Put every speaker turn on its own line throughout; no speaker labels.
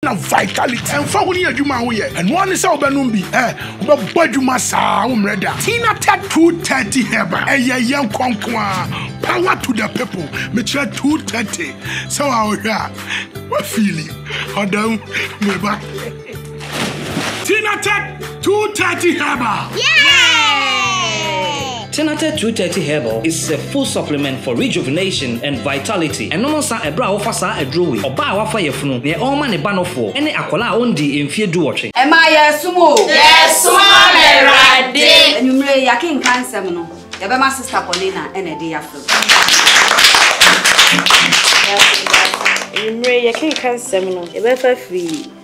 na vitality. Ɛmfa ho ne adwuma a woyɛ, ɛno ara ne sɛ wobɛnom bi. Ɛ, wobɛbɔ adwuma saa, wommrɛ da. Tina tɛ 230 herbal, ɛyɛ yɛn kɔ nko ara. Power to the people. Mekyerɛ 230, sɛ wo a wohwɛ a, woafeeli. Ɔda mu, me ba. Tina tɛ. Two
thirty herbal. Yeah! Tenate 230 Herbal is a full supplement for rejuvenation and vitality. Ɛnom nsa ɛberɛ a wofa saa aduro wei. Ɔbaa a wafa yafunu, deɛ ɔrema ne ba nofoɔ, ɛne akwadaa a ɔndii mfeɛ duwɔtwe. Ɛmaa yɛresom o.
Yɛsom Awurade. Anwummere yi yɛakenkan nsɛm no, yɛbɛma Sister Paulina na ɛde yɛ afam. Anwummere
yi yɛkenkan nsɛm no, yɛbɛfa afiri.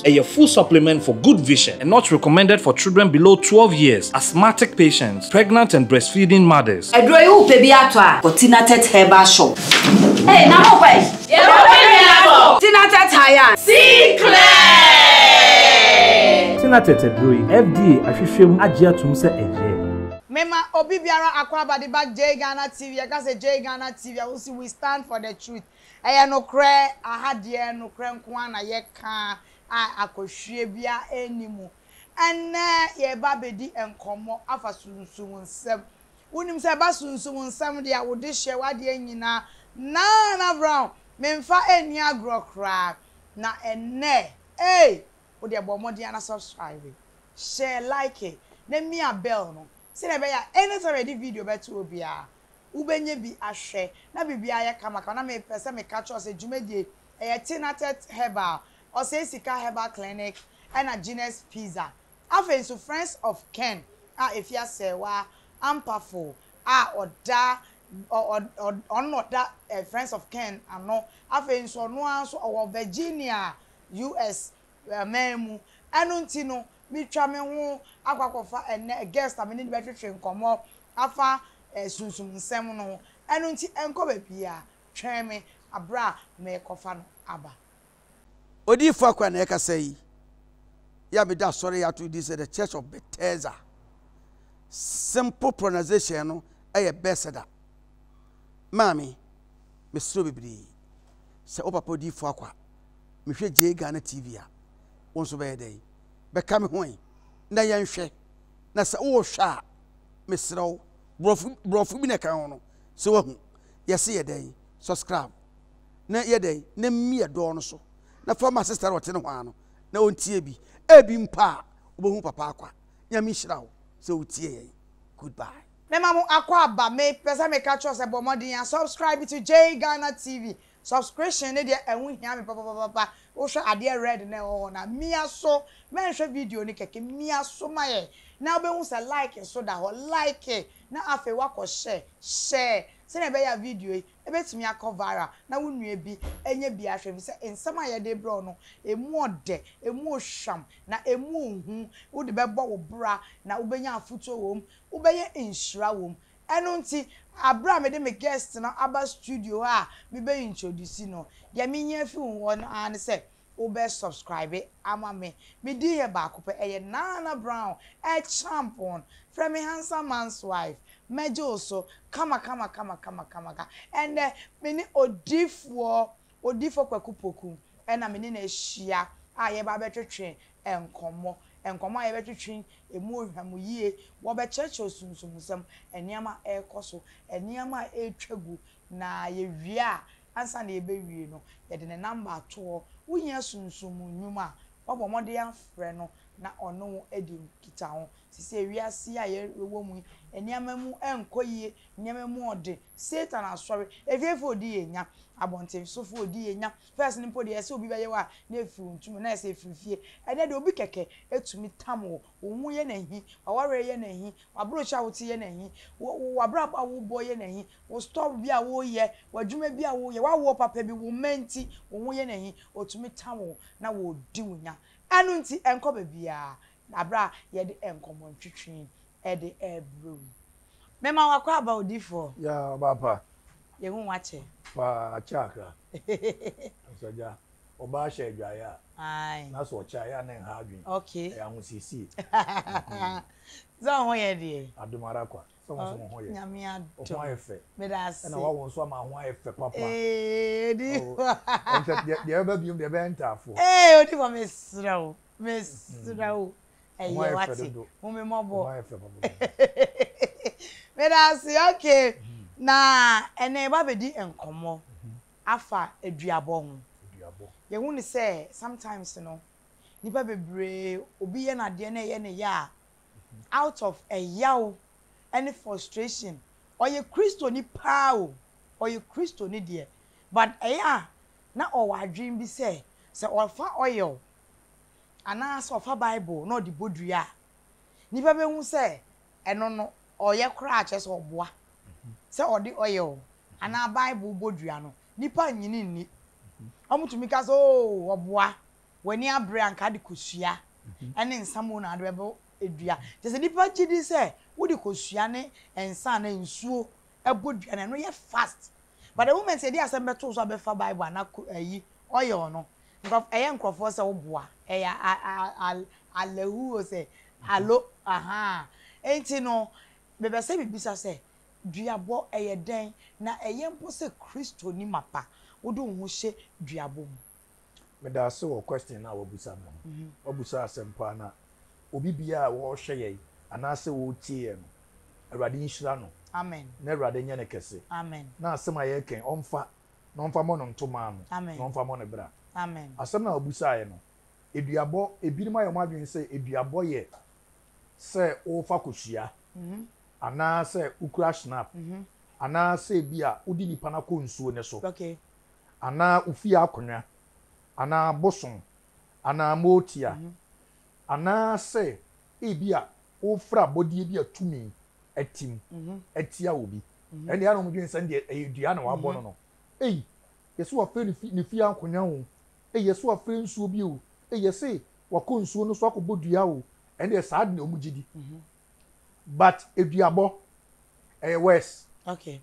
Ɛyɛ full supplement for good vision and not recommended for children below twelve years, asthmatic patients, pregnant and breastfeeding mothers. Aduro yi wopɛ bi atɔ
a kɔ Tinatet herbal shop. Hey na mo ba yi. Yɛwɔ pɛ bi atɔ. Tinatet hayan. See clear. Tinatet aduro yi
FDA ahwehwɛ mu agye atom sɛ ɛyɛ. Me ma obi
biara akwaaba de ba jay Ghana TV yɛ ka sɛ jay Ghana TV a wo se we stand for the truth Ɛyɛ nokorɛ, aha deɛ nokorɛ nko ara na yɛka a akɔhwie biara nni mu. Ɛnnɛ yɛreba abɛdi nkɔmmɔ afa sunsum nsɛm. Wonim sɛ ɛba sunsum nsɛm deɛ a, wo dehyeɛ, w'adeɛ nyinaa, Naan Abraham, memfa nni agorɔ koraa. Na ɛnnɛ, ei, wo deɛ bɔ mmɔden ara na subscribe, hyɛ like, na mia bell no, sɛdeɛ ɛbɛyɛ a anytime a yɛde video bɛto biara, Wobɛnya bi ahwɛ. Na biribiara yɛ kamakama. Na mepɛ sɛ meka kyerɛ wo sɛ dwumadie yi, ɛyɛ Tinatet Herbal, Osei Sika Herbal Clinic ɛna Gina's Pizza. Afei nso Friends of Ken a ɛfiri Asɛɛwa, Ampafo a ɔda, ɔ, ɔ, ɔ, ɔno na ɔda ɛ, Friends of Ken ano. Afei nso ɔno ara nso ɔwɔ Virginia, US. man mu. Ɛno nti no, metwa me ho akɔ akɔfa ɛnnɛ guest a me ne no bɛtwetwe nkɔmmɔ afa sunsum nsɛm no ho. Ɛno nti nkɔ baabiara, twɛn me bere a merekɔfa no aba.
Odiyifo akoa na ɛkasa yi, yi a mede asɔre yi ato din sɛ The Church of Bethesda. Simple pronunciation no yɛ Bethesda. Maame, mesrɛ wo bebree, sɛ wo papa Odiyifo Akwa, mehwɛ Jay Ghana TV a, wo nso bɛyɛ dɛn? Bɛka me ho ɛ? Na yɛnhwɛ. Na sɛ wohwɛ a, mesrɛ wo, borɔfo borɔfo bi na ɛka ho no, sɛ woahu. Yɛse yɛ dɛn? Subscribe. Na yɛ dɛn? Na mmi yɛ dɔɔ no so. Na fa ma sister no a ɔte no hwaa no, na ɔntie bi. Ebi mpo a, wobɛhu papa akwa. Nyame nhyira wo sɛ wotie yɛn. Goodbye. Mema mo akwaaba.
Me pɛ sɛ meka kyerɛ wo sɛ bɔ mmɔden a subscribe to Jay Ghana TV Subscription ne deɛ ɛho hia me papapapapa wohwɛ adeɛ red no a ɛwɔ hɔ no a mia so mɛnhwɛ video no kɛkɛ mia so ma yɛn na wobɛhu sɛ like nso da hɔ like na afei woakɔ hyɛ share sɛdeɛ ɛbɛyɛ a video yi ɛbɛtumi akɔ viral na wo nua bi anya bi ahwɛ ɛfiri sɛ nsɛm a yɛde rebrɛ wo no ɛmu ɔdɛ ɛmu ɔhwam na ɛmu ɔhu wode bɛbɔ wo bra na wobɛnya afotuo wɔ mu wobɛyɛ nhyira wɔ mu Ɛno nti, bere a mede me guest no aba studio hɔ a mebɛ introduce no, deɛ mehia fi wo hɔ no ara ne sɛ wobɛ subscribe ama me. Me din yɛ baako pɛ, ɛyɛ Nana Brown, El Champon. Frɛ me Handsome Man's Wife. Mɛgye wo so, kama kama kama kama kama ka. Ɛnnɛ, me ne odiyifoɔ Odifo Kwaku Poku na me ne no ahyia a yɛreba abɛtwetwe nkɔmmɔ. Nkɔmmɔ a yɛbɛtwetwe, emu ɔhwa mu yie, wɔbɛkyerɛkyerɛ sunsummusɛm, nneɛma a ɛrekɔ so, nneɛma a ɛretwa gu, na yɛwie a, ansa na yɛbɛwie no, yɛde ne namba ato hɔ. Wohia sunsum mu nnwuma a, woabɔ mmɔden afrɛ no na ɔne wo adi nkitaho. Seesei wiase yi a yɛwɔ mu yi, nneɛma mu nkɔ yie Nneɛma mu ɔde, Satan asɔre, afiefo a odi yɛn nya, abɔnten sofo a odi yɛn nya. First no mpo de, ɛsɛ obi bɛyɛ wo a, na efiri wo ntoma mu, na ɛsɛ efiri fie. Ɛnnɛ de, obi kɛkɛ tumi tam wo. Wo ho yɛ no ahi, w'awareɛ yɛ no ahi, w'abrotiri a wote yɛ no ahi, w'abrabɔ a wobɔ yɛ no ahi, wo store bi a woreyɛ, w'adwuma bi a woreyɛ, w'awoɔ papa bi, wo mma nti, wo ho yɛ no ahi. Otumi tam wo na odi wo nya. Ɛno nti, ɛnkɔ baabiara. bere a yɛde nkɔmmɔ ntwetwee de rebrɛ wo. Mema wo akwaaba odifoɔ. Ya ɔbaa pa.
Yɛhu wo akyɛ.
Paa akyɛ akra.
Asagya. Ɔbaa hyɛ adwaeɛ a. Ae. Na sɛ ɔkyɛ
a, ɛyɛ a na
nha adwene. Okay. Ɛyɛ ahosiesie.
Sɛ wo ho yɛ deɛ. Adom ara kwa. sɛ
wo nso wo ho yɛ Nyame adom wo ho ayɛ
fɛ
medase ɛna wawo
nso ama ho ayɛ
fɛ papa ee odi
hɔ ɛnkyɛ
deɛ deɛ ɛbɛba biom deɛ ɛbɛyɛ ntaafoɔ ee odi hɔ mesrɛ
wo mesrɛ wo ɛyɛ wate hu me mmɔbɔ medase okay na ɛnɛ yɛba bɛdi nkɔmmɔ afa aduabɔ ho yɛhu ne sɛ sometimes no nipa bebree obi yɛ no adeɛ na ɛyɛ ne yɛ a out of ɛyaw ne frustration, ɔyɛ Kristoni paa o, ɔyɛ Kristoni deɛ, but ɛyɛ a na ɔwɔ adwene bi sɛ, sɛ ɔfa oil anaa sɛ ɔfa Bible na ɔde bɔ dua a, nnipa bɛhu sɛ ɛno no, ɔyɛ koraa, kyerɛ sɛ ɔboa. Sɛ ɔde oil anaa Bible bɔ dua no, nnipa nnye no nni. Wɔtumi ka sɛ, oo, ɔboa. W'ani abere a anka de kosua ne nsa mmom na wode bɛbɔ dua. Kyerɛ sɛ nnipa gye di sɛ wode kosua ne nsa anaa nsuo bɔ dua no a, ɛno yɛ fast. But the moment yɛde asɛm bɛto wo so a bɛfa Bible anaa ayi, oil no, nkurɔfoɔ, ɛyɛ nkurɔfoɔ sɛ woboa. Ɛyɛ a, a, a, a, allahu o sɛ, alo, ahaa. Enti no, mepɛ sɛ mebisa sɛ, duabɔ, ɛyɛ dɛn? Na ɛyɛ mpo sɛ Kristoni mapa, wode wo ho hyɛ duabɔ mu? Medase
wɔ question no a w'abusa me ho. W'abusa asɛm paa na obi biaa a ɔɔhwɛ yɛn anaasɛ ɔɔtie yɛn no Awurade nhyira no Amen na Awurade
nyɛ no kɛse
Amen na asɛm a
yɛɛka yi
ɔmfa na ɔmfa mɔ no ntoma ano Amen na ɔmfa mɔ no bra Amen Asɛm no a
ɔbusaeɛ
no Aduabɔ ebinom ayɛ wɔn adwene sɛ aduabɔ yɛ sɛ wofa kosua anaasɛ wokura schnapp anaasɛ ebia wode nipa no akɔ nsuo no so
anaa wo
fie akonnwa, anaa bosom, anaa motia, anaasɛ ebia wofrɛ abɔdeɛ bi a tumi atim atia obi, ɛnneɛ ana wɔdwene sɛ deɛ ɛyɛ dua na wɔabɔ no no. Ei, yɛse wafrɛ ne fi, ne fie akonnwa o, ei, yɛse wafrɛ nsuo bi o, ei, yɛse wakɔ nsuo no so akɔbɔ dua o, ɛnneɛ saa de na wɔn gye di. But eduabɔ, ɛyɛ worse. Okay.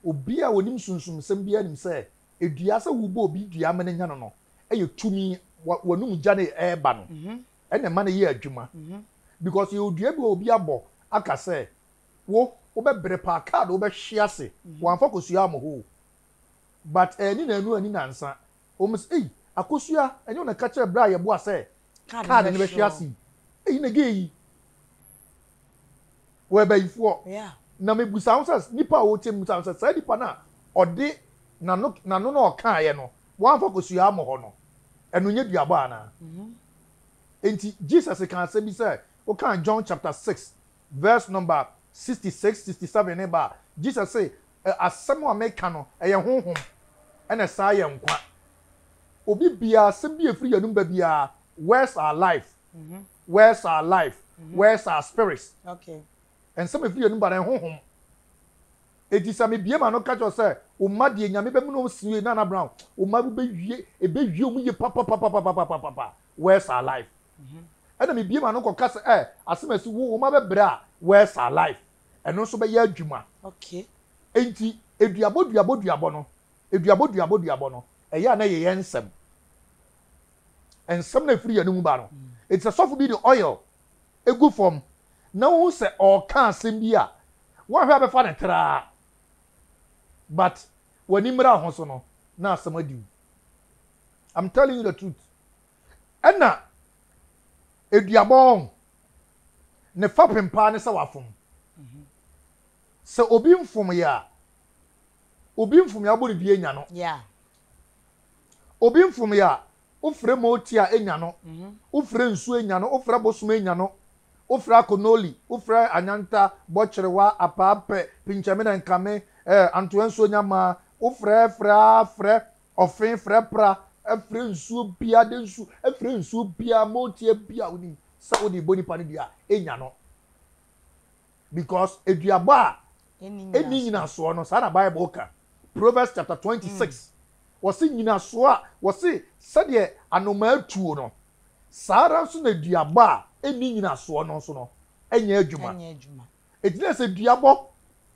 Obi a onim sunsum nsɛm biara nim sɛ dua, sɛ wobɔ obi dua ama no anya no no yɛ tumi, w'anom gya no ɛreba no na ɛma no yɛ adwuma because yɛwɔ dua bi a obi abɔ aka sɛ wo, wobɛbrɛ paa, kaa de wobɛhwe ase, wamfa kɔsuaa mo hɔ o but ɛnni nanu anni nansa Wɔn se, Ei, Akosua, ɛnyɛ wo na ɛka kyerɛɛ berɛ a yɛboa sɛ kaad no bɛhwe ase yi? Ei, na gay yi wɔyɛ bayifoɔ. Na mebusa ho sɛ, nipa a ɔrekyɛ mebusa ho sɛ, saa nipa no a ɔde n'ano n'ano na ɔkaeɛ no, wɔamfa Akosua ammɔ hɔ no, ɛno nyɛ duabɔ anaa? Enti Jesus kaa asɛm bi sɛ, wokan John chapter six verse number sixty six, sixty seven no ba a, Jesus se, Asɛm a meka no, ɛyɛ Honhom, ɛna ɛsan ayɛ nkwa. Obi biara, asɛm bi a ɛfiri yɛn anom ba biara, words are life, words are life, words are spirit.
Nsɛm a ɛfiri yɛn
anom ba no, ɛyɛ Honhom. Enti sɛ mebie m'ano ka kyerɛ wo sɛ, wo mma deɛ Nyame bɛmene wɔn siwe, Nana Brown, wo mma wobɛwie, ɛbɛwie wɔn yie papapapapapapapa, words are life. Ɛna mebie m'ano kɔka sɛ, ɛ, asɛm a ɛsi wo, wo mma bɛbrɛ a, words are life. ɛno nso bɛyɛ adwuma. Okay.
Enti
eduabɔ duabɔ duabɔ no eduabɔ duabɔ duabɔ no ɛyɛ a na yɛyɛ nsɛm nsɛm na efiri yɛn mu ba no mm. eti sɛ sɔfo bi de oil egu fam na wohu sɛ ɔreka asɛm bi a wɔahwɛ abɛfa ne traa but w'ani mmira ho so no na asɛm adiw i'm telling you the truth ɛna Aduabɔ ho, ne fapem paa ne sɛ wafom. Sɛ obi nfom yɛ a, obi nfom yɛ abɔ ne dua enya no. Obi nfom yɛ a, wofrɛ moti a enya no, wofrɛ nsu enya no, wofrɛ bosom enya no, wofrɛ akonoli, wofrɛ anyanta, bɔkyerewa, apaapɛ, pinkyɛme na nkame, eh, antoa nsuo nya maa, wofrɛ frɛ a frɛ, Ɔfee frɛ pra frɛ nsuo biaa de nsu frɛ nsuo biaa motia biaa wonim sɛ wode bɔ nipa no dua a nya no because aduabɔ a ɛni nyinasoɔ no saa na bible ka Proverbs chapter 26 mm. wɔse nyinasoɔ a wɔse sɛdeɛ anomaa tuo no saa ara nso na aduabɔ a ɛni nyinasoɔ no nso no ɛnyɛ adwuma Ɛgyina sɛ duabɔ.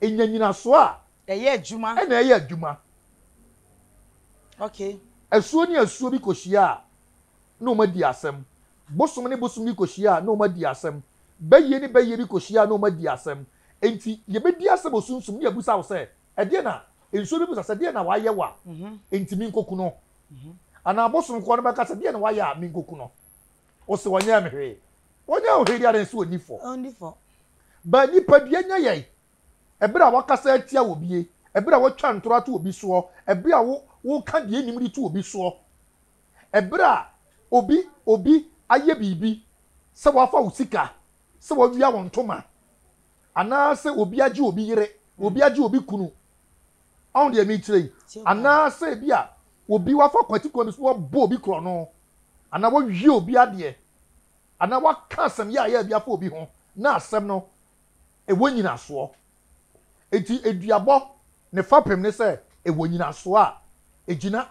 Ɛnya nyinasoɔ a. Ɛyɛ adwuma. Ɛna
ɛyɛ adwuma. Okay. Asuo ne asuo
bi kɔhyia a, na wɔn adi asɛm. Bosom ne bosom bi kɔhyia a, na wɔn adi asɛm. Bayie ne bayie bi kɔhyia a, na wɔn adi asɛm. Enti yɛbɛdi asɛm wɔ sunsum mu ne yɛabisa wo sɛ, Ɛdeɛn na, nsuo bɛbisa sɛ, Deɛn na wayɛ wo a, enti menkɔku no? Anaa bosom korɔ no bɛka sɛ, Deɛn na wayɛ a, menkɔku no? Ose ɔnyɛɛ me hwee. Ɔnyɛɛ wo hwee deɛ adɛn sɛ ɔnni fɔ? Ɔnni fɔ. But nipadua nya yɛn. Ɛberɛ a wakasa atia obie, ɛberɛ a watwa ntorɔ ato obi soɔ, ɛberɛ a wo, woka deɛ nnim de to obi soɔ, ɛberɛ a obi, obi ayɛ biribi, sɛ wafa wo sika, sɛ wawia wo ntoma, anaasɛ obi agye obi yere, obi agye obi kunu, ɔho deɛ mekyerɛ yi, anaasɛ ebi a obi wafa kwati kwan bi so na wabɔ obi korɔno, anaa wɔawie obi adeɛ, anaa wɔaka asɛm yaayaa bi afa obi ho na asɛm no ɛwɔ nyinasoɔ. Enti aduabɔ ne fapem ne sɛ ɛwɔ nyinasoɔ a ɛgyina.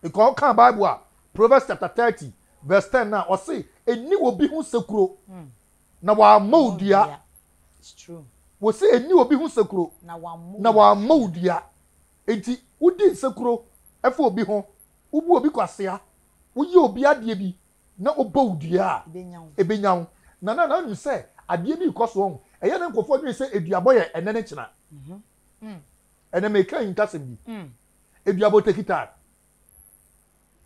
Because wokaa Bible a, Proverbs chapter thirty verse ten no a, ɔse ɛnni obi ho sekuro na wɔammɔ wo dua.
Wɔse ɛnni obi
ho sekuro na wɔammɔ wo dua. Enti wodi nsekuro fa obi ho, wobu obi kwasea, woyɛ obi adeɛ bi na ɔbɔ wo dua a, ɛbɛnya wo. Nana, na wonim sɛ adeɛ bi rekɔ so ɔho. Ɛyɛ a na nkurɔfoɔ dwene sɛ aduabɔ yɛ ɛnnɛ ne kyena. Ɛnnɛ meka ahintasɛm bi. Aduabɔ take time.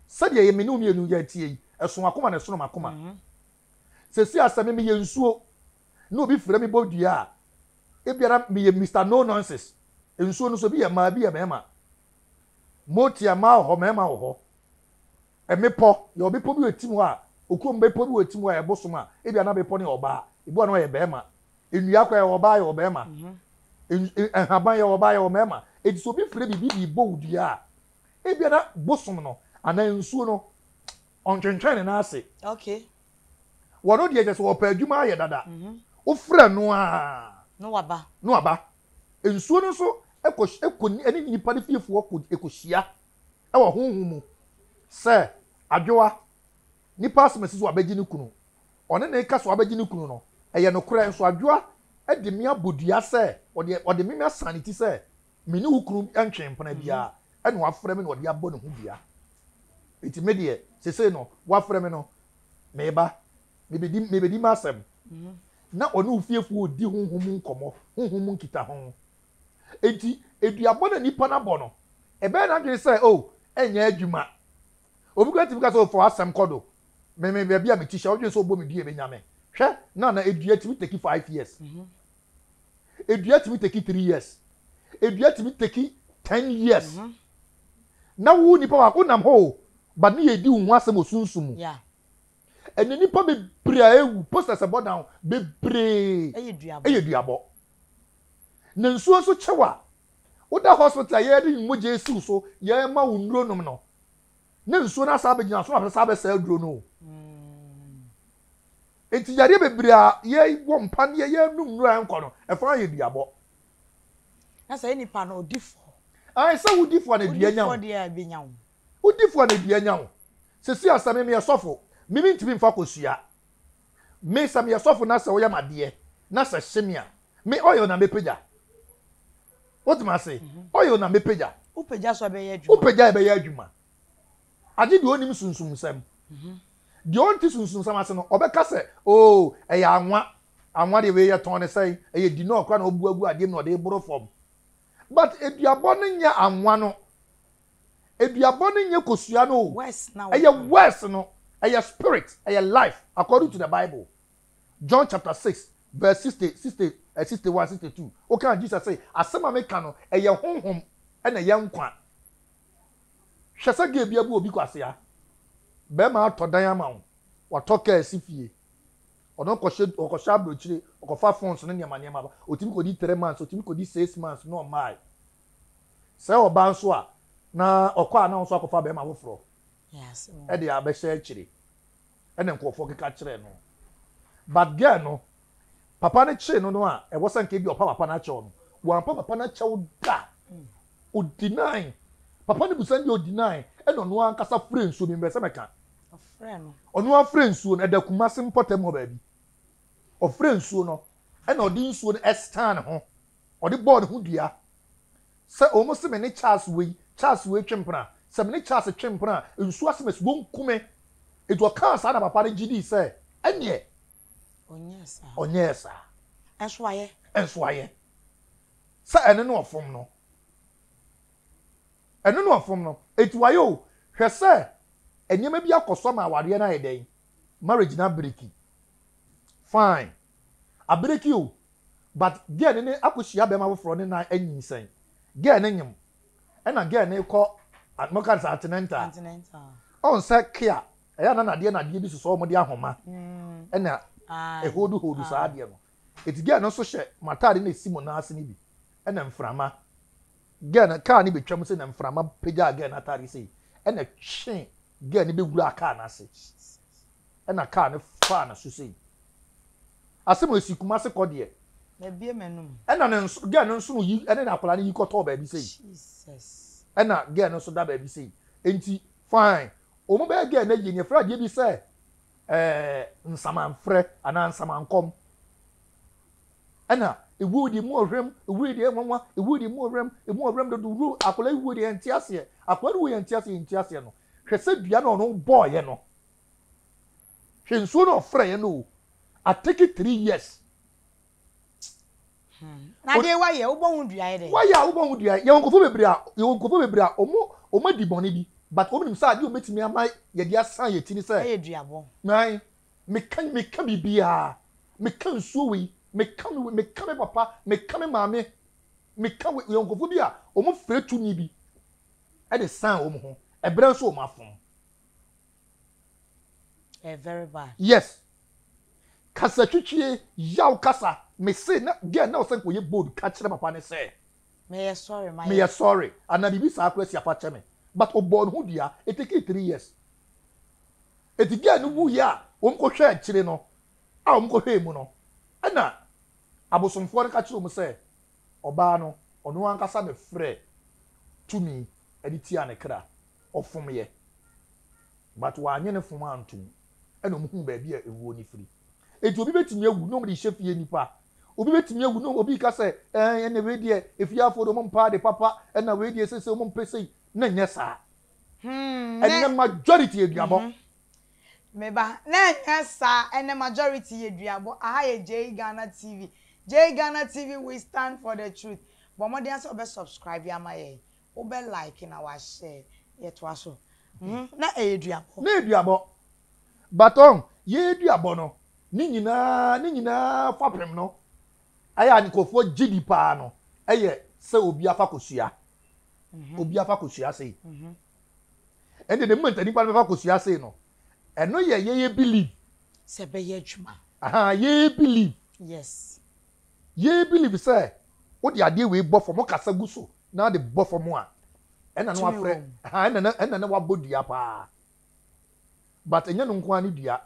Sɛdeɛ me ne wo mmienu yɛteɛ yi, ɛso akoma na ɛsono m'akoma. Seesei a sɛ me meyɛ nsuo na obi frɛ me bɔ dua a, ebia na meyɛ Mister No Nonsense. Nsuo no nso ebi yɛ mmaa ebi yɛ mmarima. Motia mmaa wɔ hɔ mmarima wɔ hɔ. Mmepɔ, yɛwɔ bepɔ bi wɔ Atim hɔ a okurom bepɔ bi wɔ Atim hɔ a ɛbosom a ebia na bepɔ no yɛ ɔbaa, ebi wɔ hɔ a na ɔyɛ barima. Nnua koraa yɛwɔ ɔbaa yɛwɔ barima. Nhaban yɛwɔ ɔbaa yɛwɔ mmarima. Enti sɛ obi frɛ biribi de rebɔ wo dua a, ebia na bosom no anaa nsuo no Ɔntwentwɛn ne nan ase. Okay.
Wɔno
deɛ kyɛ sɛ ɔpɛ adwuma ayɛ dada. Mhm. Wofrɛ no a. No waba. No
aba.
Nsuo no nso ɛkɔ ɛkɔ ɛne nipa no fiefoɔ kɔ ɛkɔhyia ɛwɔ honhom mu sɛ adwowa nipa asɛm asi so abɛgye ne kunu ɔne ne ka so abɛgye ne kunu no ɛyɛ nokorɛ nso adwowa ɛde me abɔ dua sɛ ɔde ɔde me asan ne ti sɛ Me ne wo kunu ntwee mpena biara, ɛnna wafrɛ me na ɔde abɔ ne ho dua. Enti me deɛ, seesei no, wafrɛ me no, meba, mebedi, mebedi m'asɛm. Mm-hmm. Na ɔne ofiefoɔ redi honhom mu nkɔmmɔ, honhom mu nkitaho. Enti, eduabɔ na nipa no abɔ no, ɛbɛyɛ n'adwene sɛ, o, oh, ɛnyɛ adwuma. Obi kura tumi ka sɛ, ɔfa oh, w'asɛm kɔ do. Me, me, baabi a me ti hyɛ, ɔdwene sɛ ɔbɔ me dua ebenya me. Hwɛ, na na edua tumi take five years. Mm-hmm. edua tumi teki three years edua tumi teki ten years mm -hmm. na wo nipa wa wonam hɔ o ba ne yɛ di wo ho asɛm wɔ sunsun mu ɛnna nipa bebree a ewu posters ɛbɔ dan bebree ɛyɛ duabɔ na nsuo nso kyɛw a woda hospital yɛ de mogya esiw so yɛ ma wo nnuro nom no na nsuo no asan abɛgyina so na wɔasan abɛsa aduro no o nti yadeɛ bebree a yɛwɔ mpa ne yɛyɛ num nnuro a ɛnkɔ no ɛfa ayɛ duabɔ
na sɛ nipa no ɔdi fɔ ayi sɛ wodi
fɔ na dua nya wo wodi fɔ na dua nya wo sisi asɛm mmea sɔfo mimi ntumi nfa kosua me sɛ meyɛ sɔfo na sɛ ɔyɛ madeɛ na sɛ hyemia me ɔyɛ na mepagya wotem ase oil na mɛpagya wopagya so ɛbɛyɛ
adwuma wopagya ɛbɛyɛ adwuma
agye deɛ ɔnim sunsumsɛm mhm. deɛ ɔnte sunsumsɛm ase no ɔbɛka sɛ oo oh, ɛyɛ anwa anwa deɛ wei yɛtɔn ne sɛn ɛyɛ di na ɔkora na ɔbuagu adeɛ mu na ɔde boro fam but aduabɔ no nyɛ anwa no aduabɔ no nyɛ kosua no o ɛyɛ west no ɛyɛ spirit ɛyɛ life according to the bible. John chapter six verse sixty, sixty, eh, sixty one, sixty two. Wokaa Jesus sɛ, asɛm a meka no, ɛyɛ honhom ɛna ɛyɛ nkwa. Hwɛ sɛ deɛ ebi abu obi kwasea. Bɛrima atɔ dan ama wo, watɔ kaa si fie. Ɔno kɔhyɛ ɔkɔhyɛ aburokyire, ɔkɔfa phones ne nneɛma nneɛma ba. Otumi kɔdi three months, otumi kɔdi six months na ɔmmae. Sɛ ɔbaa nso a, na ɔkɔ a na nso akɔfa bɛrima foforɔ
ɛde abɛhyɛ
akyire. ɛna nkorɔfoɔ keka kyerɛɛ no but girl no papa no kyee no no a ɛwɔ sɛ nka bi a ɔpa papa no akyɛw no wampa papa no akyɛw da o deny papa no busa no deɛ o deny ɛna ɔno ankasa frɛ nsuo mempɛ sɛ mɛka
ɔno afrɛ
nsuo no ɛda Kumasi mpɔtam hɔ baabi ɔfrɛ nsuo no ɛna ɔde nsuo no ɛstan ho Ɔde bɔɔ ne ho dua sɛ, Wɔn se me ne Charles wei, Charles wei twe mpena. Sɛ me ne Charles twe mpena a, nsuo asem asi, wɔnku me. Enti ɔkaa saa na papa no gye dii sɛ, Ɛnneɛ ɔnyɛɛ saa. Nso wayɛ. Nso wayɛ. Sɛ ɛno na ɔfom no. Ɛno na ɔfom no. Enti wayɛ o. Hwɛ sɛ nneɛma bi akɔ so ama awareɛ no ayɛ dɛn? Marriage no abiriki. Fine. Abereki o but girl no ne akɔ hyia bɛma foforɔ ne nan anyinsɛn girl no nyem ɛna girl no kɔ moka no sɛ antenental ɔn sɛ kea ɛyɛ a na nadeɛ nadeɛ bi sosɔ wɔn de ahoma ɛna ɛhold hold saa adeɛ no eti girl no nso hyɛ mo ataade na esi mo nan ase no bi ɛna mframa Girl no car no betwam sei na mframa pagyaa girl no atade sei ɛna ɛtwe girl no bɛwuraa car no ase ɛna car no faa no so sei. Asɛm esi Kumase kɔ deɛ. Mabie m'anum.
Ɛna ne nso girl no
nso yi ɛne na akwadaa no yi kɔtɔɔ baabi sei. Jesus. Ɛna girl no nso da baabi sei. Enti fine. Wɔn bɛyɛ girl no awie no yɛfrɛ adeɛ bi sɛ ɛɛ nsamanfrɛ anaa nsamankɔm. Ɛna ewuo deɛ emu ɔhwɛm, ewuo deɛ nwanwa, ewuo deɛ emu ɔhwɛm, emu ɔhwɛm dodo wuro, akwadaa ewuo deɛ yɛnte aseɛ, akwadaa no wuo yɛnte aseɛ, yɛnte aseɛ no. Hwɛ sɛ dua na ɔno bɔɔyɛ no, hwɛ nsuo na ɔfrɛeɛ no o, I take it three years. Hmm. Na
deɛ wayɛ wobɔ ho dua yɛ dɛ. Wayɛ a wobɔ ho dua yɛ wɔn
nkɔfo bebree a yɛ wɔn nkɔfo bebree a wɔn wɔn adi bɔne bi but wɔn nim sɛ adeɛ wɔn betumi ama yɛde asan yɛ ti ne sɛ. Ɛyɛ duabɔ.
Nan
Meka yi, meka biribiara. Meka nsuo wei, meka no wei, meka me papa, meka me maame, meka wei. Yɛwɔ nkurɔfoɔ bi a, wɔfira tu nwi bi de san wɔn ho, ɛberɛ nso wɔn afom.
Ɛyɛ very bad. Yes.
Kasatwitwie, yaw kasa. Mese na girl na ɔsɛ nka ɔyɛ bold ka kyerɛ papa no sɛ, Meyɛ sorry,
mayɛ. Meyɛ sorry,
anaa biribi saa koraa si a fa kyɛ me. But ɔbɔɔ ne ho dua. It takee three years. Enti girl no wuiɛ a wɔkɔhwɛɛ akyire no, a wɔkɔhwɛɛ mu no, ɛna abosomfoɔ no ka kyerɛɛ wɔn sɛ ɔbaa no, ɔno ankasa na ɛfrɛ tumi de tiaa ne kra. Ɔfomyɛ. But wannye ne fom antom. Ɛna wɔhuu baabi a ɛwuo no firi. Enti obi bɛtumi awu na wɔde rehyɛ fie nnipa Obi bɛtumi awu na obi reka sɛ, Ɛɛ, ɛnna wei deɛ, afiafoɔ deɛ wɔmpɛ ade papa, ɛnna wei deɛ seesei wɔmpɛ sei. Na ɛnyɛ saa. Hmm, ɛnɛ majority yɛ duabɔ. Mm-hmm. Me ba,
na ɛnyɛ saa, ɛnɛ majority yɛ duabɔ. Aha yɛ Jay Ghana TV. Jay Ghana TV, we stand for the truth. Bɔ mmɔden ara sɛ wobɛ subscribe ama yɛn, wobɛ like na wa share. Yɛtoa so. Mm-hmm, na ɛyɛ duabɔ. Na ɛyɛ duabɔ. But
ɔn, yɛɛ duabɔ no, ne nyinaa, ne nyinaa fapem no, ayɛ a nkorɔfoɔ gye di paa no, ɛyɛ sɛ obi afa kɔ sua. Obi afa kɔ sua sei. Ɛnde the moment a nipa no bɛfa kɔ sua sei no, ɛno yɛ yɛyɛ believe. Sɛ ɛbɛyɛ
adwuma. Ahaa, yɛyɛ
believe. Yes.
Yɛyɛ
believe sɛ, wode adeɛ wei bɔ fam, wokasa gu so na wode bɔ fam a, ɛna na wafrɛ, ahaa, ɛna na, ɛna na wabɔ dua paa. but ɛnyɛ no nko ara ne dua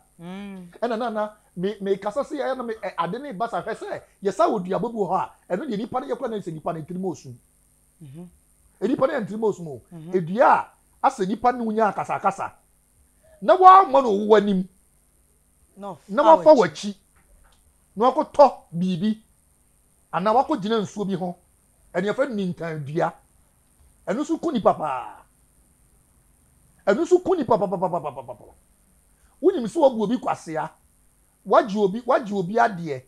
ɛna na na me me kasa se ɛyɛ na me ade ne basa hwɛ sɛ yɛsa wɔ duabɔ bi wɔ hɔ a ɛno deɛ nipa no yɛkɔ na sɛ nipa no ntirim osum nipa no yɛ ntirim osum o edua a asɛ nipa no nya akasa akasa na wɔama no ɔwɔ anim na wafa w'akyi na wakɔtɔ biribi anaa wakɔgyina nsuo bi ho ɛne yɛfrɛ no nintan dua Ɛno nso ku nipa paa. Ɛno nso ku nipa papapapapapa. Wonim sɛ wabu obi kwasea, wagye obi wagye obi adeɛ,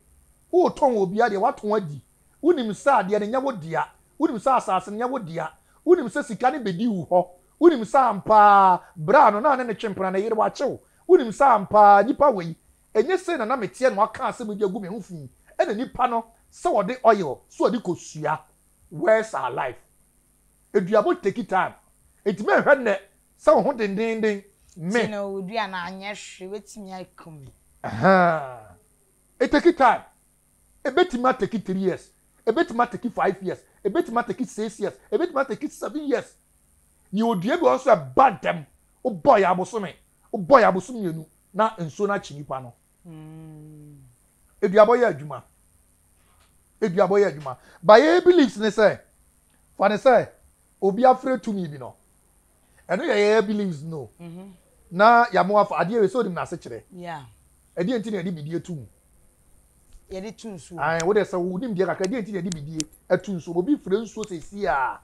wotɔn obi adeɛ, watɔn adi. Wonim sɛ adeɛ no nyɛ wo dea. Wonim sɛ asase no nyɛ wo dea. Wonim sɛ sika no bɛdi wo hɔ. Wonim sɛ ampa ara bra no na ne ne twe mpena ne yere wakye wo. Wonim sɛ ampa ara nipa wei, ɛnyɛ sei na na meteɛ na waka asɛm yi de agu me ho fi. Ɛna nipa no sɛ ɔde oil sɛ ɔde kɔsua. Words are life. Aduabɔ take time. Enti mɛhwɛ nnɛ sɛ wo ho dendeenden. Me. Ti na ɔredua no anyɛ
hwee obetumi aku me. Ahaa.
E take time. Ebetumi a take three years. Ebetumi a take five years. Ebetumi a take six years. Ebetumi a take seven years. Nea ɔdua bi wɔ hɔ nso a ɛba ntɛm. Wobɔ yɛ abosome. Wobɔ yɛ abosom mmienu na nsuo no akye nipa no. Eduabɔ yɛ adwuma. Eduabɔ yɛ adwuma. Ba yɛ beliefs ne sɛ, fa ne sɛ obi afrɛ tumi bi no. Ɛno yɛ yɛ beliefs no. Mhm. Na yɛamo afa adeɛ wei sɛ onim n'ase kyerɛ. Yeah. Ɛdeɛ
nti na yɛde
bidie ato mu.
Yɛde to nsuo. Ayi, wo deɛ sɛ wo nim deɛ
kakra, ɛdeɛ nti na yɛde bidie ato nsuo. Obi frɛ nsuo sɛ esi a,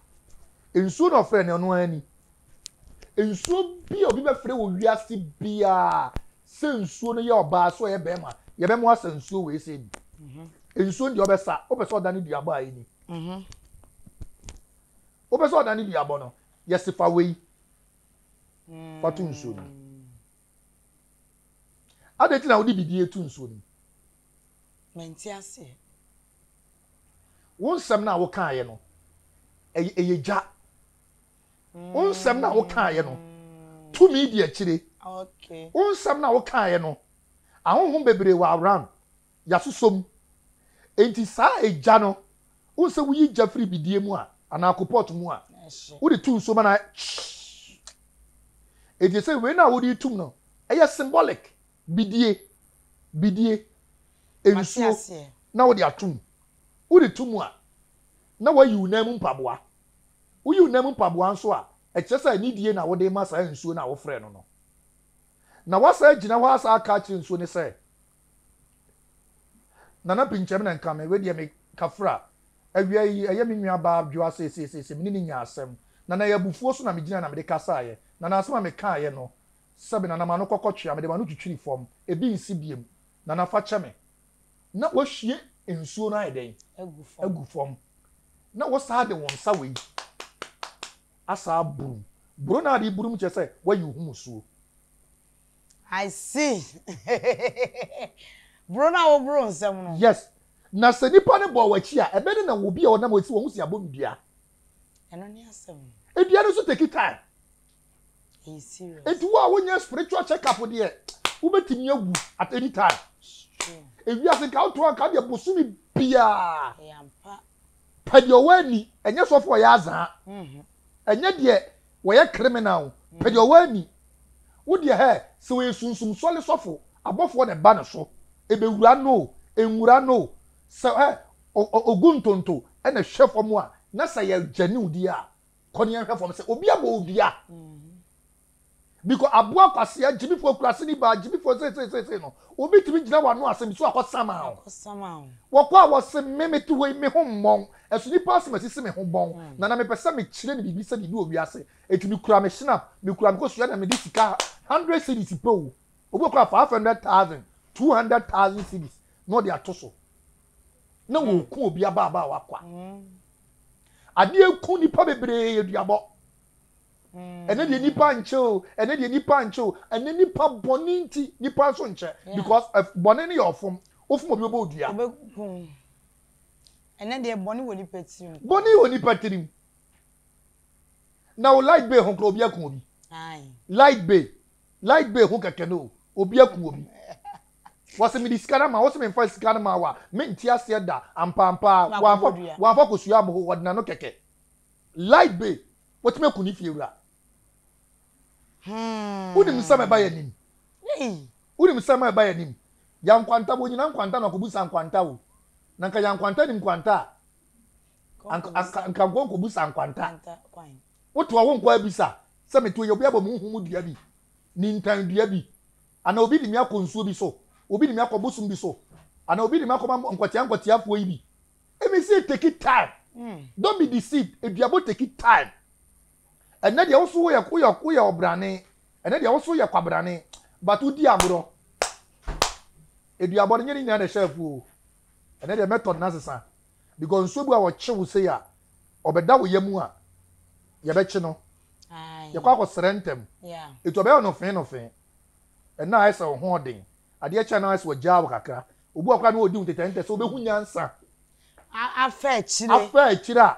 nsuo na ɔfrɛ no ɔno ani. Nsuo bi a obi bɛfrɛ wɔ wiase biara. sɛ nsuo no yɛ ɔbaa sɛ ɔyɛ bɛrima yɛbɛ mo asa nsuo wei sɛ bi mhm. nsuo no deɛ ɔbɛsa wopɛ sɛ ɔda ne duabɔ a ɛni mhm. wopɛ sɛ ɔda ne duabɔ no yɛse fa wei fa to nsuo no mm. adɛn nti na wode biribi to nsuo no
menti aseɛ
wo nsɛm no a wokaeɛ no ɛyɛ gya Wo nsɛm no a wokaeɛ no, tumi di akyire. Wo
nsɛm no a wokaeɛ
no, ahonhom bebree wɔ around, yɛasosɔ mu. Enti saa egya no, wohu sɛ woyi gya firi bidie mu a, anaa kopɔt mu a, wode to nsuo ma no Enti sɛ wei no a wode tum no, ɛyɛ symbolic, bidie, bidie, nsuo na wode atum. Wode to mu a, na woayi wo nan mu mpaboa. Woyi wo nan mu mpaboa nso a, ɛkyerɛ sɛ anidie na wode rema saa nsuo no a wofrɛɛ no no. Na woasan agyina hɔ asan aka akyerɛ nsuo no sɛ, Nana pinkyɛm na nka me, wei deɛ me kafra. Awia yi, ɛyɛ me nuabaa adwoa seeseiseesei, me ne no nyaa asɛm. Nana, ɛyɛ abufuo so na megyinaeɛ na mede kasaeɛ. Nana, asɛm a mekaeɛ no, sɛbe, Nana, ma no kɔkɔtwea, mede m'ano twitwiri fam, ebi nsi biom. Nana, fa kyɛ me. na wɔahwie nsuo no ayɛ dɛn agu fam na wɔsaa de wɔn nsa wei asaa burum buro no ade burum kyerɛ sɛ wɔayi ho musuo.
I see buro no a wɔboro nsam no. Yes na
sɛ nipa no bɔ wɔakyi a ɛbɛ ne na obi a ɔnam ɔsi wɔn si abom dua. Ɛno ne
asɛm. Edua no nso take
time.
nti wo a wonyɛ spiritual
check up deɛ wobɛtumi awu at any time ewiase nka woto anka deɛ bosome biaa
pɛ deɛ
ɔwɔ ani ɛnyɛ sɔfo ɔyɛ azaa mhm. ɛnyɛ deɛ wɔyɛ criminal pɛ deɛ ɔwɔ ani wo deɛ hɛ sɛ wɔyɛ sunsum sɔle sɔfo abɔfoɔ na ɛba no so ɛbɛwura no ɛnwura no sɛ ɛ ogu ntonto ɛna hwɛ fam a na sɛ yɛ gyaniw deɛ a kɔ ne yɛnhwɛ fam sɛ obi abɔ odua bikɔ aboa kwasea gyimifoɔ kurase ne baa gyimifoɔ seeseeseesei no obi tumi gyina wɔ ano asɛm so akɔsama o wɔkɔ a wɔse me mete hɔ yi me ho mmɔn ɛso nipa asɛm asisi me ho bɔn mm. na na mepɛ sɛ mekyerɛ ne biribi sɛ biribi wɔ wiase ɛti mekura me snap mekura me kɔsua na mede sika 100 cities pɛ o obi kɔ a 500000 200000 cities na ɔde ato so na hmm. wɔku obi abaabaawa kwa hmm. adeɛ ku nipa bebree yɛ duabɔ hmm. ɛnɛ deɛ nipa nkyɛ o ɛnɛ deɛ nipa nkyɛ o ɛnɛ nipa bɔne nti nipa nso nkyɛ because eh, bɔne no yɛ ɔfom wofom obi bɛbɔ odua ɛnɛ
deɛ bɔne wɔ nipa tirim bɔne wɔ nipa tirim
na wo light bay ho kora obi aku obi light bay light bay ho kɛkɛ no obi aku obi Wɔse mede sika no ama wo, wose memfa sika no ma wo a, mente aseɛ da, ampaampaa, wamfa, wamfa kosua amho, wɔde n'ano kɛkɛ. Light bay, watumi aku ne fiewura. Wonim nsɛm a ɛba yɛn anim. Wonim nsɛm a ɛba yɛn anim. Yɛn nkwanta, wɔnyina nkwanta na wɔkɔbu sa nkwanta o. Na nka yɛn nkwanta nim nkwanta a, anka, anka, anka nko nkɔbu sa nkwanta. Wotoa wo nko abisa sɛ metoa yi, obi abɔ me huhu mu dua bi, nintan dua bi, Anaa obi de me akɔ nsuo bi so, obi de me akɔ bosom bi so, anaa obi de me akɔma nkwatia nkwatiafoɔ yi bi. Ɛmi sɛ take time. Hmm. Don't be deceived. Eduabo take time. Ɛnɛ deɛ woso woyɛ woyɛ woyɛ ɔbrane. Ɛnɛ deɛ woso yɛ kwabrane. But wodi agorɔ. Eduabo no nyɛ ne nyinaa na ɛhyɛ afuo. Ɛnɛ deɛ method no asesa. Because nsuo bi a wɔkye wo sei a ɔbɛda wo yam a yɛbɛkye no. Yɛkɔ akɔsrɛ ntɛm. Etu ɔbɛyɛ ɔnofee nofee. Nna ayɛ sɛ wo ho ɔden. Adeɛ kyɛ a, na ayɛ sɛ wɔagyaa wo kakra. Obi wɔ hɔ koraa a, na ɔredi wo ntɛtɛntɛ sɛ ɔbɛhu nyansa. Afa
akyire. Afa akyire
a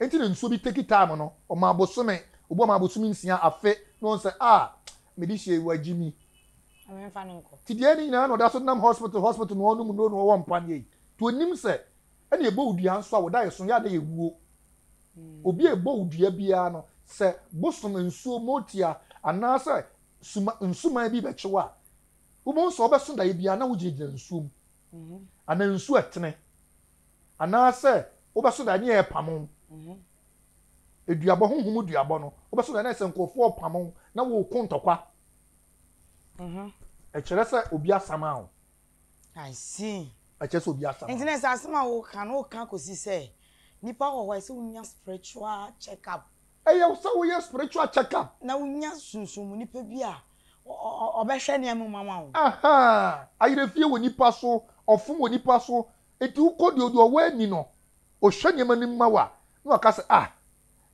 enti na nsuo bi take time no, ɔmaa bosome, obi ɔmaa bosome nsia, afe, na ɔhu sɛ, ah, mede hyia yi, wagye mi. Na memfa
no nkɔ. Nti deɛ ne nyinaa na ɔda so denam
hospital, hospital na ɔnom nnuro na ɔwɔ mpaneɛ yi. Nti ɔnnim sɛ, ɛnna yɛbɔ wo dua nso a, wo da yɛ so, yɛ a na yɛwuo. Obi a ɛbɔ wo dua biara no, sɛ bosom nsuo motia anaasɛ suma nsuman bi bɛkye wo a, wobɛhu sɛ wobɛso daeɛ biara na wogyinagyina nsuo mu anaa nsuo ɛtene anaasɛ wobɛso daeɛ ne yɛ ɛpamo eduabɔ honhom duabɔ no wobɛso daeɛ na sɛ nkurɔfoɔ ɔpamo na wɔko ntɔkwa ɛkyerɛ sɛ obi asama wo I
see. Ɛkyɛ sɛ obi asam.
Nti na sɛ asɛm a woka
no woka kɔsi sɛ nipa wɔ hɔ a ɛsɛ wonya spiritual check up. Ɛyɛ sɛ woyɛ
spiritual check up. Na wonya sunsun
mu nipa bi a ɔbɛhwɛ nneɛma mu ama wo.
Ayerɛfie wɔ nipa so, ɔfom wɔ nipa so. Nti wokɔ deɛ ɔwɔ ani no, ɔhwɛ nneɛma no mu ma wo a, na waka sɛ ah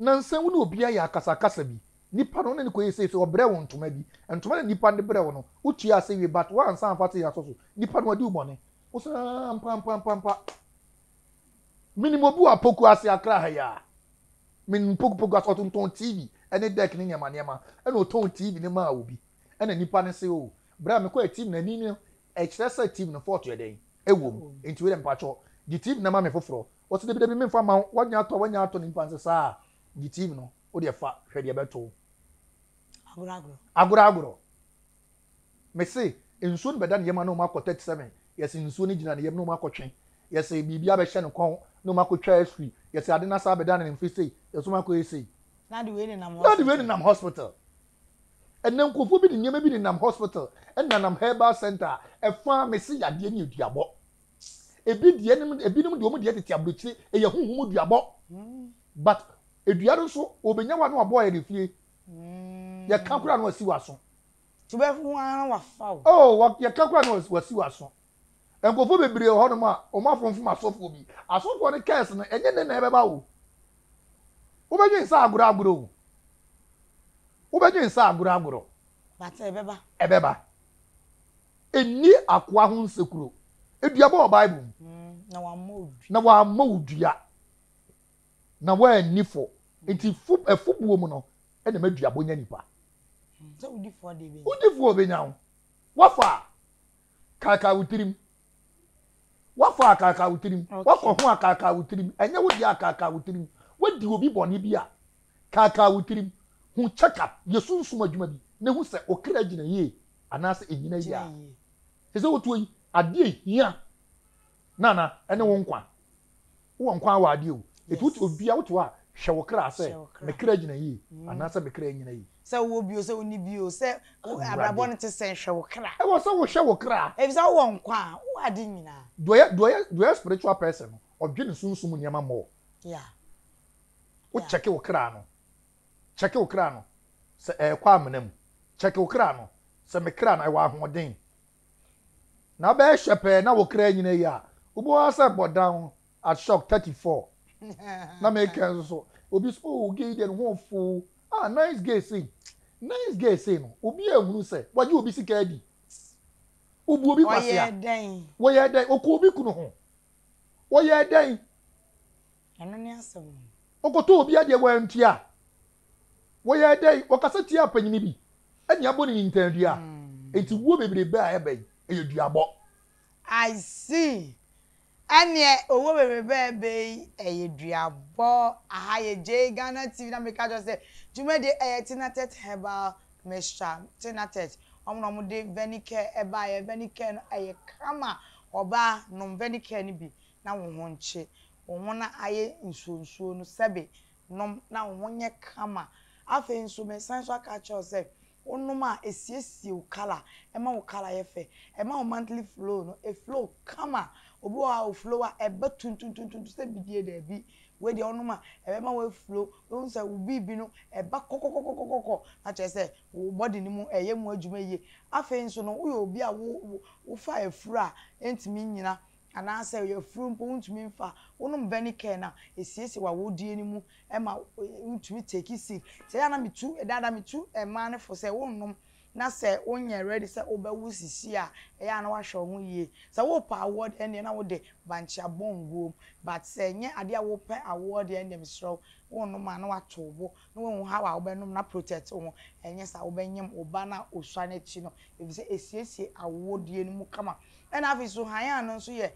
Nansa wo ne obi ayɛ akasakasa bi, nipa no wo ne no kɔyɛ sei, so ɔbrɛ wo ntoma bi, ntoma na nipa no de brɛ wo no, wo tua ase wie but wo ansa amfa aseɛ asɔ so, nipa no wadi wo bɔne. Wo sɛ ah ampampampampa. Me nim obi wɔ Apoku ase Accra ha yi a, me nim Poku Poku ase, ɔtontɔn TV ɛne deck ne nneɛma nneɛma, ɛna ɔtɔn TV no maa obi, ɛna nipa no se oh, berɛ a me kɔɛ TV no ani no Ɛkyerɛ sɛ team no fault yɛ dɛn? Ɛwɔ mu. Nti wei deɛ mpakyɛ gye team no ma me foforɔ. Wɔse dabi dabi menfa ma wo, wanya atɔ a wanya atɔ, nipa nse saa a gye team no, wo deɛ fa hwɛ deɛ ɛbɛto wo. Agorɔ agorɔ. Agorɔ agorɔ. Mese nsuo no bɛda ne yam a na wɔn akɔ 37, yɛse nsuo no gyina ne yam na wɔn akɔ twe, yɛse biribi abɛhyɛ ne kɔn na wɔn akɔ twa x-ray, yɛse ade no asan abɛda ne mfe sei, yɛse wɔn akɔ yɛ sei. Na de wei nenam hospital.
Na de wei nenam hospital.
Ɛnnɛ nkurɔfoɔ bi de nneɛma bi nenam hospital nanam herbal center a ɛfa mese yadeɛ ne aduabɔ. Ebi deɛ nom ebinom deɛ wɔn deɛ tete aburokyire ɛyɛ huhum aduabɔ but edua no nso wɔbɛnya wa no wabɔ ayɛ ne fie yɛka koraa no wasi waso. Wobɛhu
ara na wafa wo. Oh yɛka koraa no
wasi waso. Nkurɔfoɔ bebree wɔ hɔnom a wɔn afomfom asɔfoɔ bi. Asɔfoɔ no curse no, ɛnyɛ nnɛ na ɛbɛba o. Wobɛdwen sɛ agorɔ agorɔ o. Wobɛdwen sɛ agorɔ agorɔ. But ɛbɛba.
Ɛbɛba.
Nni akoa ho nsekuro. Aduaba wɔ Bible mu. Na wammɔ wo dua. Na wammɔ wo dua. Na woanni fɔ. Nti fo, afubuo mu no, ɛna ɛma duabɔ nya nipa. Sɛ wodi
fɔ deɛ ɛbɛnya. Wodi fɔ a ɔbɛnya wo.
Wafa a. kaakae wo tirim wafɔ a kaakae wo tirim wakɔ ho a kaakae wo tirim ɛnyɛ wo deɛ a kaakae wo tirim wadi obi bɔne bi a kaakae wo tirim ho check up yɛ sunsum adwuma bi na hu sɛ okra gyina yie anaasɛ ɛnyina yie a ɛsɛ wotuo yi adeɛ hia na na ɛne wo nkwa. Wowɔ nkwa a wɔ adeɛ o. Ɛti wote obia wote hɔ a hwɛ wo kra sɛ me kra gyina yie anaa sɛ me kra nyina yie. Sɛ wowɔ bio sɛ wonni
bio sɛ abrabɔ no te sɛn hwɛ wo kra. Ɛwɔ sɛ wohwɛ wo kra.
Ɛfisɛ wowɔ nkwa a
wowɔ ade nyinaa. Deɛ ɔyɛ
spiritual person no ɔdwe ne sunsum nneɛma more. Yeah. Wo check wo kra no. Check wo kra no sɛ ɛɛkɔ amena mu. Check wo kra no sɛ me kra no ɛwɔ ahoɔden. Na bɛyɛ hwɛ pɛɛ na wo kra nyina yi a, wobɛhu ara sɛ bɔdan at shock thirty four na me kra nso so. Obi so oh gay deɛ ne ho fo ah nice gay sei nice gay sei no obi a hunu sɛ wagye obi sika adi, obu obi kwasea, wɔyɛɛ dɛn, wɔkɔ obi kunu ho, wɔyɛɛ dɛn. Ɛno
ne asɛm no. Wokɔtɔɔ obi
adeɛ wantua a, wɔyɛ dɛn? Wɔkasa tiaa panyin bi ne abɔneni ntam dua. Enti wuo bebrebe a ɛba yi, ɛyɛ duabɔ. I
see. Ɛneɛ owuo bebrebe a ɛba yi, ɛyɛ duabɔ. Aha yɛ JGhana TV na meka kyerɛ wo sɛ dwumadie ɛyɛ Tinatet Herbal Mixture. Tinatet, wɔn na wɔde Venicare ɛbaeɛ. Venicare no ɛyɛ kama. Ɔbaa, nom Venicare no bi. na wo ho nkye, wo ho no ayɛ nsuo nsuo no, sɛbe, nom na wo ho nyɛ kama. Afei nso, meresan nso aka akyerɛ wo sɛ, wonom a, ɛsiesie wo kala, ɛma wo kala yɛ fɛ, ɛma wo monthly flow no ɛflow kama. Obi wɔ hɔ a, ɔflow a, ɛba tuntuntuntuntu sɛ bidie, daabi, wei deɛ wonom a, ɛbɛma woaflow, wobɛhu sɛ wo biribi no ɛba kɔkɔkɔkɔkɔkɔ, na kyerɛ sɛ, wo body no mu ɛyɛ mu adwuma yie. Afei nso no, woyɛ obi a wo wo wofa afuro a ɛntumi nnyina Anaasɛ ɔyɛ afuro mpo wontumi mfa, wonom vɛnikɛɛ no a ɛsiesie w'awodeɛ no mu ma wontumi teki sik. Sɛ ɛyɛ a na metu, ɛdaada metu mmaa no fo sɛ wonnom na sɛ wonyɛ rɛdi sɛ wobɛwo sisi a ɛyɛ a na woahwɛ wo ho yie. Sɛ worepɛ awoɔ deɛ ɛnneɛ na wode bankyea bɔ nguom but sɛ ɛnyɛ adeɛ a worepɛ awoɔ deɛ ɛnneɛ meserɛ wo wonnom a na woato wo bo na woahu haw a wobɛnom na protect wo ho, ɛnyɛ saa a wobɛnyem wo ba no a osua no akyi no, efisɛ esiesie awodie no mu kama. Ɛna afei nso Hayan no nso yɛ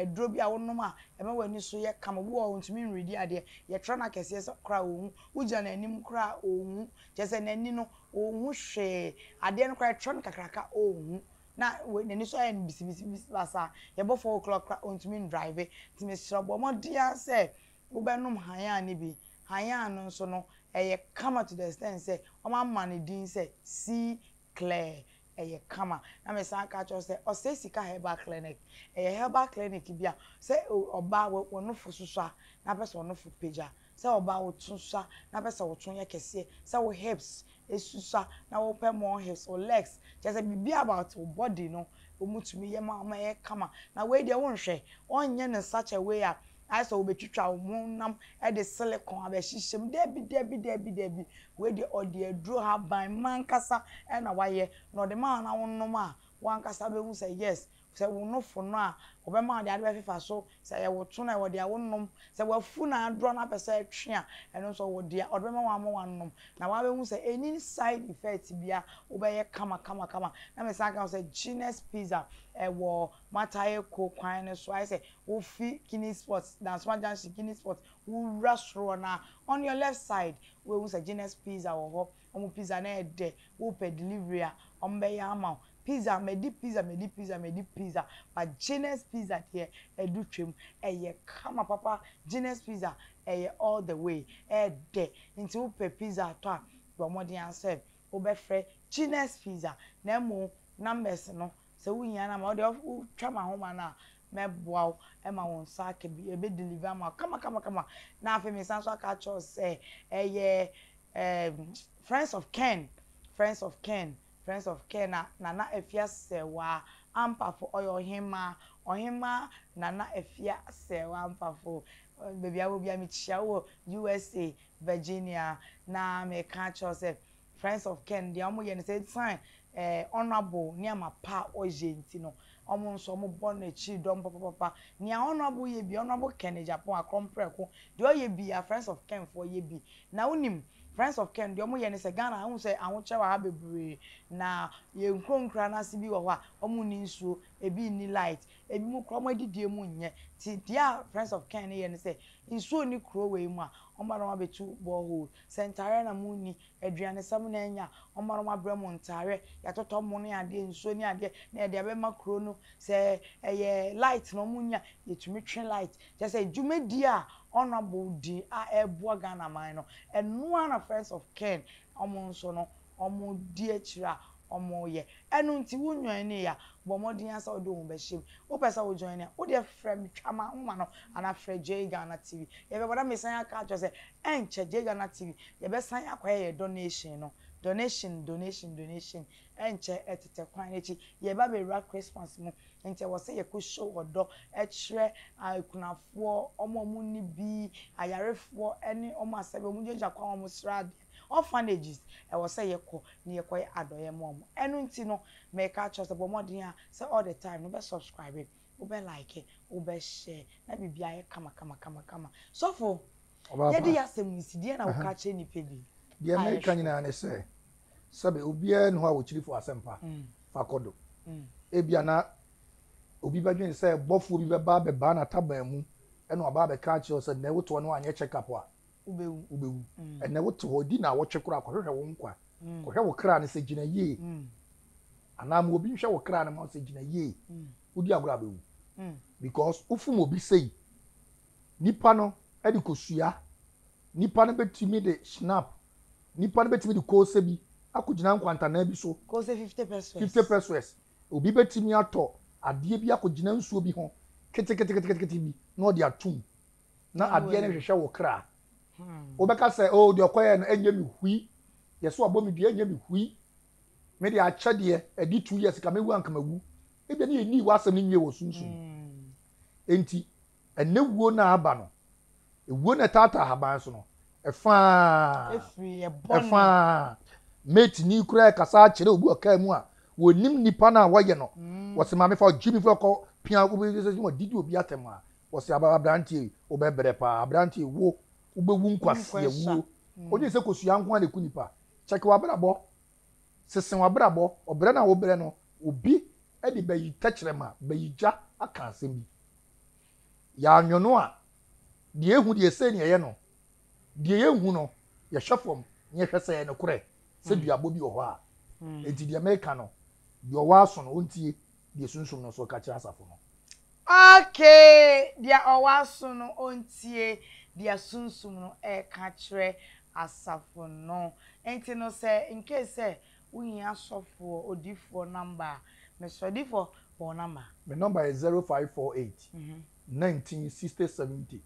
aduro bi a wonom a ɛma w'ani so yɛ kama. Obi wɔ hɔ a ontumi nredi adeɛ, yɛtra no akɛseɛ sɛ koraa a onhu, wogyina n'anim koraa a onhu, kyerɛ sɛ n'ani no onhu hwee, adeɛ no koraa yɛtra no kakraka onhu, na n'ani so ayɛ no bisibisibisi basaa, yɛbɔ four o'clock koraa a ontumi ndrive. Nti mesrɛ wo bɔ mmɔden ara sɛ Wobɛnom hann a no bi. Hann a no nso no, ɛyɛ kama to the extent sɛ wɔama no din sɛ sea clear. Ɛyɛ kama. Na mesan aka akyerɛ wo sɛ ɔsɛe sika herbal clinic. Ɛyɛ herbal clinic bi a sɛ ɔbaa wo w'anofo susua na wopɛ sɛ w'anofo pagya, sɛ ɔbaa wo to susua na wopɛ sɛ wo to yɛ kɛseɛ, sɛ wo hips esusua na wɔpɛ more hips or legs kyerɛ sɛ biribi about wo body no wɔtumi yɛ ma wo ma ɛyɛ kama na wei deɛ wonhwɛ wɔnyɛ no such a way a ayɛ sɛ wɔbɛtwitwa wo honam de silicone abɛhyehyɛ mu dabi dabi dabi dabi wei deɛ ɔde aduro haban mma ankasa na wayɛ na ɔde ma wo na wonom a wo ankasa bɛhu sɛ yes Sɛ wo nofo no a, wɔbɛma wo de ade bɛfefa so, sɛ ɛyɛ wo tsono a, ɛwɔ dea wonom, sɛ w'afu na adorɔ na apɛ sɛ ɛtwe a, ɛno nso ɔwɔ dea ɔde bɛma wo ama woanom, na woabehu sɛ enni side effects biara, wobɛyɛ kama kama kama. Na mesan ka wo sɛ Genius Pizza, ɛwɔ Mataheko kwan no so, ayɛ sɛ wofi Guinness Port, Dansoma Junction, Guinness Port, wowura soro hɔ no ara, on your left side, wobɛhu sɛ Genius Pizza wɔ hɔ. Wɔn pizza no yɛ dɛ. Wopɛ delivery a, wɔbɛyɛ ama wo. Pizza, madi pizza, madi pizza, madi pizza, but Gyness pizza deɛ, ɛdu twam. Ɛyɛ kama papa. Gyness pizza, ɛyɛ all the way. Ɛyɛ dɛ. Nti wopɛ pizza atɔ a, bɔ mmɔden ara sɛ wobɛfrɛ Gyness pizza. Na mmom numbers no Sɛ wohia no a, ma ɔde wo twa m'ahoma no a, mɛboa wo ma wo nsa aka bi, ɛbɛ deliver ama wo kamakamakama. Na afei mesan nso aka akyerɛ wo sɛ ɛyɛ ɛɛm Friends of Ken, Friends of Ken, Friends of Ken a Nana Afia Sɛwa Ampafo, ɔyɛ ɔhemmaa, Ɔhemmaa Nana Afia Sɛwa Ampafo. Baabi a wɔ biara mekyia wo wɔ USA, Virginia. Na meka akyerɛ wo sɛ Friends of Ken deɛ ɔmo yɛ no sɛ esan ɛɛ Honourable nneɛma pa a ɔyɛ nti no ɔmo nso ɔmo bɔ no akyiri dɔm papapapa. Nea Honourable yɛ biaa Honourable Ken Agyapong Akorɔn Prɛko deɛ ɔyɛ biaa Friends of Ken foɔ yɛ bi. Na wonim Friends of Ken deɛ ɔmo yɛ no sɛ Ghana ha wohu sɛ ahokyerɛ wɔ ha bebree na yɛn nkuro nkuraa no ase bi wɔ hɔ a ɔmo nni nsuo, ebi nni light, ebi mo koraa ɔmo adidie mu nyɛ nti deɛ a Friends of Ken no yɛ no sɛ nsuo nni kuro wei mu a ɔmo ba na ɔmo abɛtu borehole Sɛ ntaareɛ na mo nni, aduane sɛ mo na anya, ɔma no wabrɛ mo ntaareɛ, yɛatotɔ mo ne adeɛ, nsuo ne adeɛ, na yɛde abɛma kuro no, sɛ ɛyɛ light na ɔmo nni a, yɛtumi twe light, kyerɛ sɛ dwumadie a honourable di a ɛreboa Ghana man no, ɛno ara na friends of Ken ɔmo nso no ɔmo di akyire a wɔyɛ. Ɛno nti, wo nnwɔɛnee a, bɔ mmɔden ara sɛ wode wo ho bɛhyɛ mu. Wopɛ sɛ wo join a, wo deɛ frɛ me, twa m'ahoma no anaa frɛ Jay Ghana TV. Yɛbɛbɔ na mesan aka akyerɛ wo sɛ, ɛnkyɛ Jay Ghana TV, yɛbɛsan akɔyɛ yɛn donation no. Donation, donation, donation, ɛnkyɛ, ɛtetɛ kwan no akyi. Yɛreba abɛwura Christmas mu, nti ɛwɔ sɛ yɛkɔ show ɔdɔ kyerɛ akunafoɔ, wɔn a wɔnni bi, ayarefoɔ ne wɔn a sɛdeɛ wɔgyinagyina kwan ho a wɔsrɛ adeɛ. Orphanages, ɛwɔ sɛ yɛkɔ na yɛkɔyɛ adɔeɛ ma wɔn. Ɛno nti no, meka kyerɛ wo sɛ bɔ mmɔden ara sɛ all the time no wobɛ subscribe, wobɛ like, wobɛ share na biribiara ayɛ kama kama kama kama. Sɔfo, yɛde y'asɛm nsi, deɛn na woka kyerɛ nnipa bi? Deɛ meka nyinaa
ne sɛ, sɛbe obiara nni hɔ a ɔkyirifo asɛmpa fa kɔ do. Ebia na obi bɛdwen sɛ bɔfoɔ bi bɛba abɛbaa n'ataban mu na waba abɛka akyerɛ wo sɛ nnɛ wotoɔ no anyɛ check up a, wobɛwu wobɛwu mm. ɛnɛ wote hɔ di na awɔtwe koraa kɔhwehwɛ wo nkwa mm. kɔhwɛ wo kra no sɛ gyina yie mm. anaa ma obi nhwɛ wo kra no ma wo sɛ gyina yie mm. wodi agorɔ a bɛwu mm. because wofom obi sei nipa no de kɔsua nipa no bɛtumi de snap nipa no bɛtumi de koose bi akɔgyina nkwantanaa bi so koose 50 pesos
50 pesos
obi bɛtumi atɔ adeɛ bi akɔgyina nsuo bi ho keteketeketekete bi na ɔde atom na adeɛ no hwehwɛ wo kra. Wobɛka sɛ, oh, deɛ ɔkɔyɛ no ɛnyɛ me hui, deɛ so abɔ me dua ɛnyɛ me hui. Me deɛ akyɛ deɛ, ɛdi two years ka mɛwu anka mawu. Ebia ne yɛnnii w'asɛm no nwie wɔ sunsum mu. Enti, ɛnnɛ wuo no a aba no, ewuo no a ɛtaataa haban so no, ɛfa ara, ɛfa ara. Mate ni koraa rekasa akyerɛ obi wɔ kaa mu a, wɔnnim nnipa no a wɔyɛ no, wɔse, Maame fa ɔgyimifiri a ɔkɔpia obi, wɔdidi obi atɛm a, Wɔse abranteɛ yi wobɛbrɛ paa abranteɛ yi wo wobɛwu nkwaseɛ wuo wogye sɛ kosua nko a na ɛku nipa check wabrabɔ sese wabrabɔ ɔbrɛ no a wobrɛ no obi de bayi tɛkyerɛma bayi gya aka asɛm bi yɛanwo no a deɛ ehu deɛ sei ne ɛyɛ no deɛ yɛnhu no yɛhwɛ fam na yɛhwɛ sɛ ɛyɛ nokorɛ sɛ duabɔ bi wɔ hɔ a enti deɛ meka no deɛ ɔwɔ aso no ɔntie Deɛ sunsum no nso ka kyerɛ asafo no. Ok,
deɛ ɔwɔ aso no ɔntie deɛ sunsum no reka kyerɛ asafo no. Nti no sɛ incase sɛ wohia sɔfoɔ odifoɔ number a, Mesrɛ odifoɔ bɔ wo number. Me number yɛ zero five
four eight nineteen sixty seventy.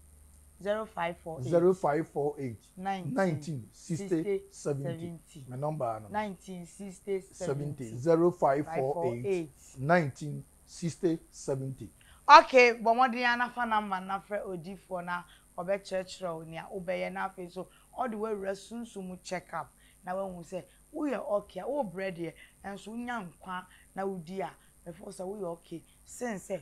zero five four eight. zero five four eight. nineteen sixty seventy. me number ano. nineteen sixty
seventy.
zero five four eight. nineteen sixty seventy. Okay, bɔ
mmɔden ara na fa number na frɛ odiyifoɔ na ɔbɛkyerɛkyerɛ wo nea wobɛyɛ na afei nso ɔde w'awura sunsum mu check up na wahu sɛ woyɛ okay a, worebrɛ deɛ nanso wonya nkwa na wodi a, before sɛ woyɛ okay sen sɛ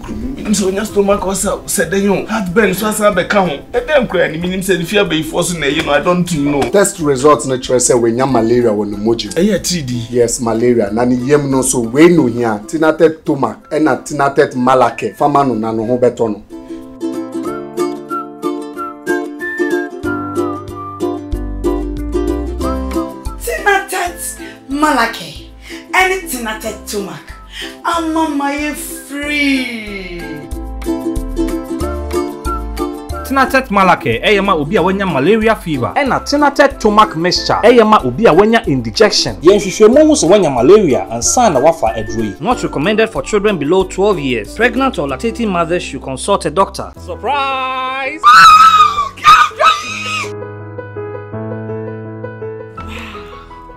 Kurobo menim sɛ ɔnya stomach ulcer o, sɛ dɛn o, heartburn nso asan abɛka ho. Ɛdɛn koraa ni, menim sɛ ne fie abayifoɔ so na ɛye no, I don't know. Test result no
kyerɛ sɛ wanya malaria wɔ ne mogya mu. Ɛyɛ atiridii. Yes,
malaria. Na
ne yam no nso, wei na ohia, Tinatet Tomac ɛna Tinatet Malacare. Fa ma no na ne ho bɛtɔ no.
Tinatet Malacare ɛne Tinatet Tomac. ama mayɛ free.
Tinatet Malacare ɛyɛ ma obi a wanya malaria fever. Ɛna Tinatet Tomac Mixture ɛyɛ ma obi a wanya indigestion. Yɛ nhwehwɛmu hu sɛ
wanya malaria ansa na wafa aduro yi. Not recommended for children below twelve years. Pregnant or lactating mothers should consult a doctor. Surprise! Wow!